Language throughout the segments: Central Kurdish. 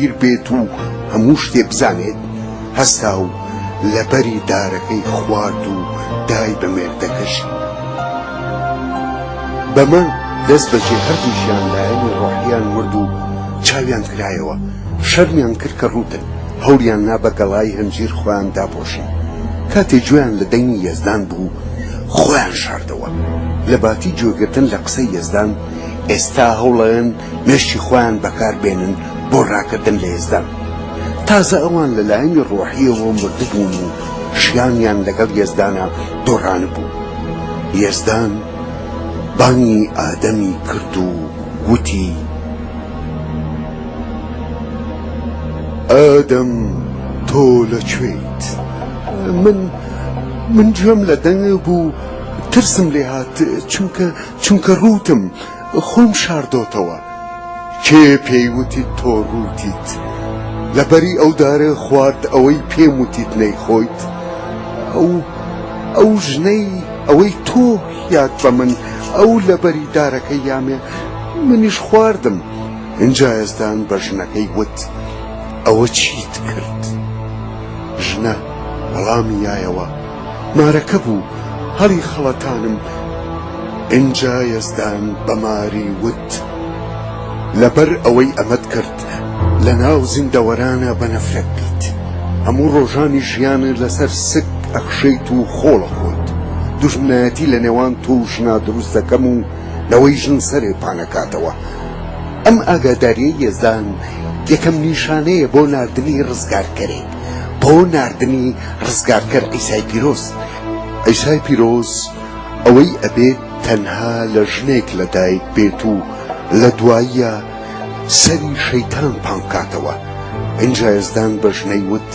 گیر بێت و هەموو شتێ بزانێت، هەستا و لە بەری دارەکەی خوارد و دای بە مێردەکەشی. بەمە دەست بەجێ هەردووکیان لایەنی ڕۆحییان مرد و چاویان کرایەوە، شەرمیان کرد کە ڕووتن، هەوڵیان نا بە گەڵای هەنجیر خۆیان داپۆشن. کاتێ گوێیان لە دەنگی یەزدان بوو، خۆیان شاردەوە. لە باتی گوێگرتن لە قسەی یەزدان، ئێستا هەوڵەێن مێشکی خۆیان بەکار بێنن بۆ ڕاکردن لە یەزدان. تازە ئەوان لە لایەنی ڕۆحییەوە مردبوون و ژیانیان لەگەڵ یەزدانا دۆڕانبوو. یەزدان بانگی ئادەمی کرد و وتی. ئادەم تۆ لە کوێیت؟ من من گوێم لە دەنگت بوو ترسم لێ هات چونکە چونکە ڕووتم. خۆم شاردۆتەوە کێ پێی وتیت تۆ ڕووتیت لە بەری ئەو دارە خوارد ئەوەی پێم وتیت نەیخۆیت ئەو ئەو ژنەی ئەوەی تۆ یاد بە من ئەو لە بەری دارەکە یامێ منیش خواردم ئینجا یەزدان بە ژنەکەی وت ئەوە چیت کرد ژنە وەڵامی یایەوە مارەکە بوو هەڵی خەڵەتانم ئینجا یەزدان بە ماری وت لەبەر ئەوەی ئەمەت کرد لە ناو زیندەوەرانە بە نەفرەت بیت هەموو ڕۆژانی ژیانت لەسەر سک ئەخشێیت و خۆڵ ئەخۆیت دوژمنایەتی لە نێوان تۆ و ژنا دروست دەکەم و لەوەی ژن سەرێ پانەکاتەوە ئەم ئاگاداریەی یەزدان یەکەم نیشانەیە بۆ ناردنی ڕزگارکەرێ. بۆ ناردنی ڕزگارکەر عیسای پیرۆز. عیسای پیرۆز ئەوەی ئەبێت تەنها لە ژنێک لە دایک بێت و لە دواییە سەری شەیتان پان بکاتەوە. ئینجا یەزدان بە ژنەی وت،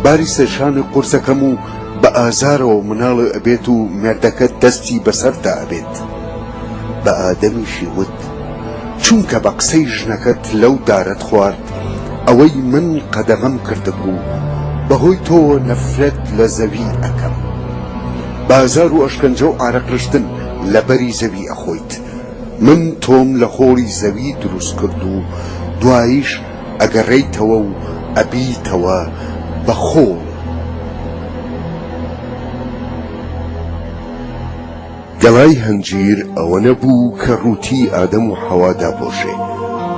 باری سەرشانی قورس ئەکەم و بە ئازارەوە مناڵێ ئەبێت و مێردەکەت دەستی بەسەردا ئەبێت. بە ئادەمیشی وت، چونکە بە قسەی ژنەکەت لەو دارەت خوارد. ئەوەی من قەدەغەم کردبوو بەهۆی تۆوە نەفرەت لە زەوی ئەکەم بازار و ئەشکەنجە و عارەق رشتن لەبەری زەوی ئەخۆیت من تۆم لە خۆڵی زەوی دروست کرد و دوایش ئەگەڕێیتەوە و ئەبیتەوە بە خۆڵ. گەڵای هەنجیر ئەوە نەبوو کە ڕووتی ئادەم و حەوا داپۆشێ،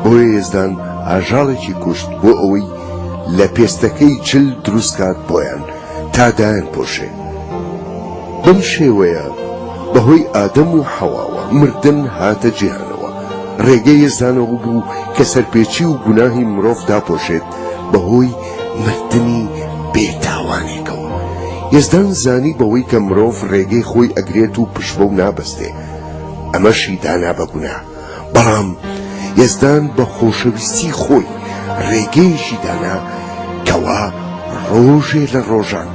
بۆیە یەزدان ئاژاڵێکی کوشت بۆ ئەوەی لە پێستەکەی جل دروست کات بۆیان تا دایانپۆشێ. بەم شێوەیە بە هۆی ئادەم و حەواوە مردن هاتە جیهانەوە. ڕێگەی یەزدان ئەوە بوو کە سەرپێچی و گوناهی مرۆڤ داپۆشێت بەهۆی مردنی بێتاوانێکەوە یزدان زانی بەوەی کە مرۆڤ ڕێگەی خۆی ئەگرێت و پشت بەو نابەستێ ئەمەشی دانا بەگونا بەڵام یزدان بە خۆشەویستی خۆی ڕێگەیەکی دانا کەوا ڕۆژێ لە ڕۆژان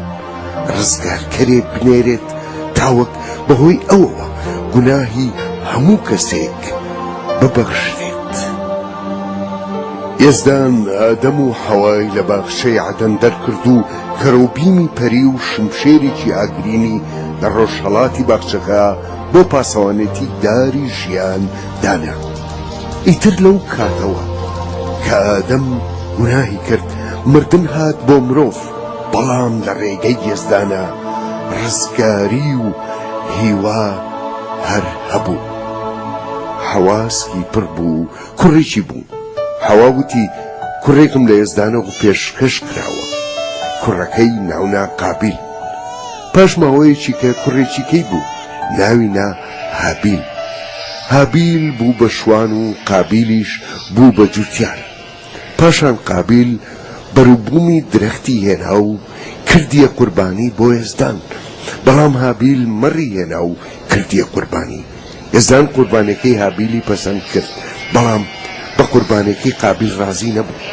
ڕزگارکەرێ بنێرێت تاوەک بەهۆی ئەوەوە گوناهی هەموو کەسێک ببەخشێت یەزدان ئادەم و حەوای لە باخچەی عەدەن دەرکرد و کەرۆبیمی پەری و شمشێرێکی ئاگرینی لە ڕۆژهەڵاتی باخچەکە بۆ پاسەوانێتی داری ژیان دانا. ئیتر لەو کاتەوە کە ئادەم گوناهی کرد، مردن هات بۆ مرۆڤ، بەڵام لە ڕێگەی یەزدانە ڕزگاری و هیوا هەر هەبوو. حەواسکی پڕ بوو کوڕێکی بوو حەوا وتی کوڕێکم لە یەزدانە و پێشکەش کراوە کوڕەکەی ناونا قابیل پاش ماوەیەکی کە کوڕێکی کەی بوو ناوی نا هابیل هابیل بوو بە شوان و قابیلیش بوو بە جوتیار پاشان قابیل بەروبوومی درەختی هێنا و کردیە قوربانی بۆ یەزدان، بەڵام هابیل مەڕی هێنا و کردیە قوربانی، یەزدان قوربانێکەی هابیلی پەسەند کرد، بەڵام بە قوربانێکی قابیل ڕازی نەبوو،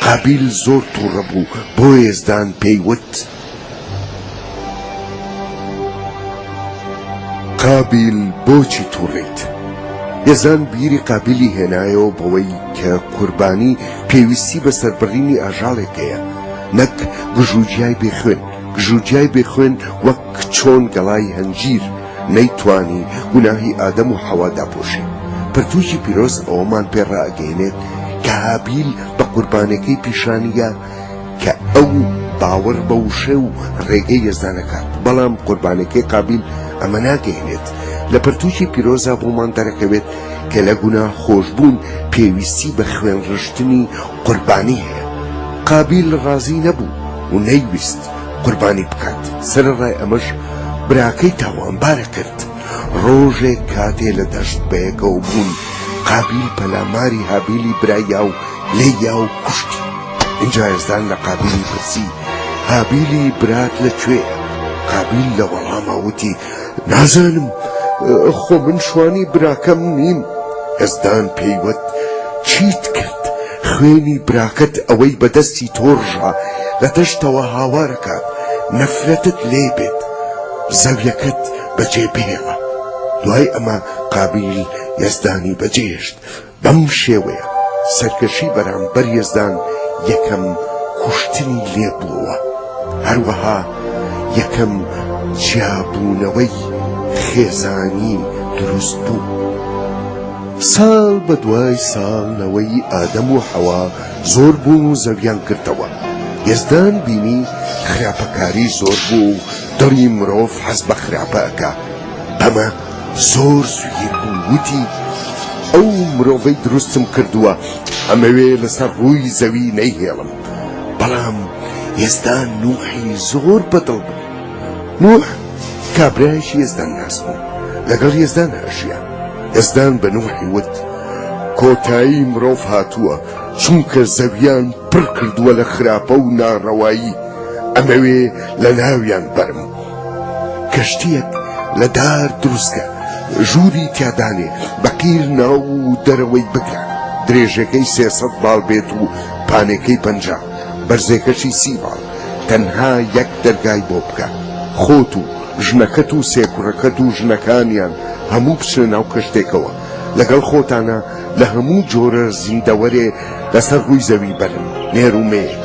قابیل زۆر توڕە بوو، بۆیە یەزدان پێی وت. قابیل بۆچی توڕەیت؟ یەزدان بیری قابیلی هێنایەوە بەوەی کە قوربانی پێویستی بە سەربڕینی ئاژاڵێک هەیە نەک گژوگیای بێ خوێن، گژوگیای بێ خوێن وەک چۆن گەڵای هەنجیر نەیتوانی گوناهی ئادەم و حەوا داپۆشێت. پەرتووکی پیرۆز ئەوەمان پێ ڕائەگەیەنێت کە هابیل بە قوربانێکەی پیشانیگە، کە ئەو باوەڕ بە وشە و ڕێگەی یەزدانەکە بەڵام قوربانەکەی قابیل ئەمە ناگەهێنێت لە پرتوکی پیرۆزا بۆمان دەرەکەوێت کە لە گونا خۆشببوون پێویستی بە خوێن ڕشتنی قوربانی هەیە قابیل ڕازی نەبوو و نەیویست قوربانی بکات سەرڕای ئەمەش براکەی تاوانبارە کرد ڕۆژێک کاتێ لە دەشت بەیەکەوە بوون قابیل پەلاماری هابیلی برایە و لێی یا و کوشتی ئینجا یەزدان لە قابیلی پرسی هابیلی برات لە کوێیە قابیل لە وەڵاما وتی نازانم خۆ من شوانی براکەم نیم یەزدان پێیوت چیت کرد خوێنی براکەت ئەوەی بەدەستی تۆڕژە لە دەشتەوە هاوارەکات نەفرەتت لێ بێت زەویەکەت بەجێ بهێڵە دوای ئەمە قابیل یەزدانی بەجێهێشت بەم شێوەیە سەرکەشی بەرامبەر یەزدان یەکەم کوشتنی لێ بووەوە، هەروەها یەکەم جیابوونەوەی خێزانی دروست بوو. ساڵ بە دوای ساڵ نەوەی ئادەم و حەوا زۆر بوون و زەویان گرتەوە، یەزدان بینی خراپەکاری زۆر بووە و دڵی مرۆڤ حەز بە خراپە ئەکا، بەمە زۆر سویر بوو وتی ئەو مرۆڤەی دروستم کردووە ئەمەوێ لەسەر ڕووی زەوی نەیهێڵم بەڵام ئێستا نوحی زۆر بەدڵ بوو نوح کابرایش یێزدان ناس بوو لەگەڵ یێزدان ئەژیا یێزدان بە نوحی وت کۆتایی مرۆڤ هاتووە چونکە زەویان پڕ کردووە لە خراپە و ناڕەوایی ئەمەوێ لە ناویان بەرم کەشتیەک لە دار دروستکە ژووری تیادانێ بەقیر ناو و دەرەوەی بکە درێژەکەی سێ سەد باڵ بێت و پانێکەی پەنجا بەرزێکەشی سی باڵ تەنها یەک دەرگای بۆ بکە خۆت و ژنەکەت و سێ کوڕەکەت و ژنەکانیان هەموو بچنە ناو کەشتێکەوە لەگەڵ خۆتانا لە هەموو جۆرە زیندەوەرێ لەسەر ڕووی زەوی بەرن نێر و مێیەک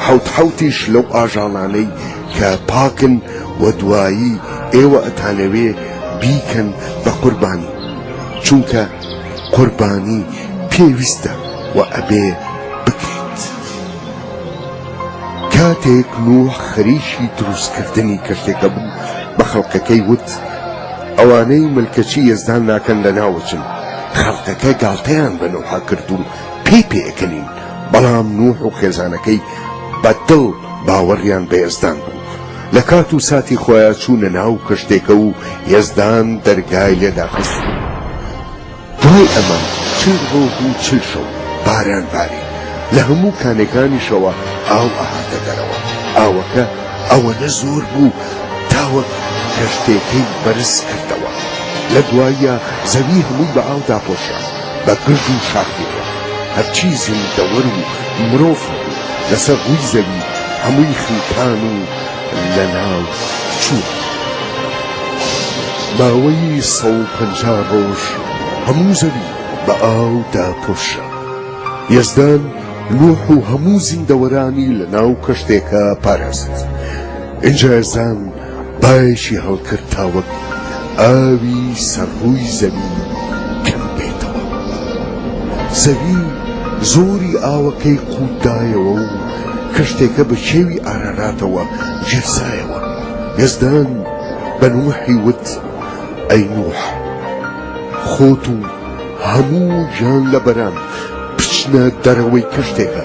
حەوت حەوتیش لەو ئاژاڵانەی کە پاکن و دوایی ئێوە ئەتانەوێ بیکەن بە قوربانی چونکە قوربانی پێویستە و ئەبێ بکرێت کاتێک نوح خەریکی دروستکردنی کەشتێکە بوو بە خەڵکەکەی وت ئەوانەی ملکەچی یەزدان ناکەن لە ناوەچن خەڵکەکە گاڵتەیان بە نوحا کرد و پێی پێکەنین، بەڵام نوح و خێزانەکەی بە دڵ باوەڕیان بە یەزدان بوو، لە کات و ساتی خۆیا چوونە ناو کەشتێکە و یەزدان دەرگای لێ داخست و دوای ئەمە چل ڕۆژ و چل شەو باران باری، لە هەموو کانێکانیشەوە ئاو ئەهاتە دەرەوە، ئاوەکە ئەوەنە زۆر بوو تا وەک کەشتێکەی بەرز کردەوە، لە دواییا زەوی هەمووی بە ئاو داپۆشرا. بە گرد و شاخێکە، هەرچی زیندەوەر و مرۆڤ هەبوو لەسەر ڕووی زەوی هەمووی خنکان و لەناو چوون. ماوەی سەد و پەنجا ڕۆژ هەموو زەوی بە ئاو داپۆشرا. یەزدان نوح و هەموو زیندەوەرانی لەناو کەشتێکە پاراست. ئینجا یەزدان بایەکی هەڵکرد تا وەک ئاوی سەر ڕووی زەوی کەم بێتەوە. زەوی زۆری ئاوەکەی قووتدایەوە و کەشتێکە بە کێوی ئاراراتەوە گیرسایەوە. یەزدان بە نوحی وت، ئەی نوح، خۆت و هەموو گیانلەبەران بچنە دەرەوەی کەشتێکە.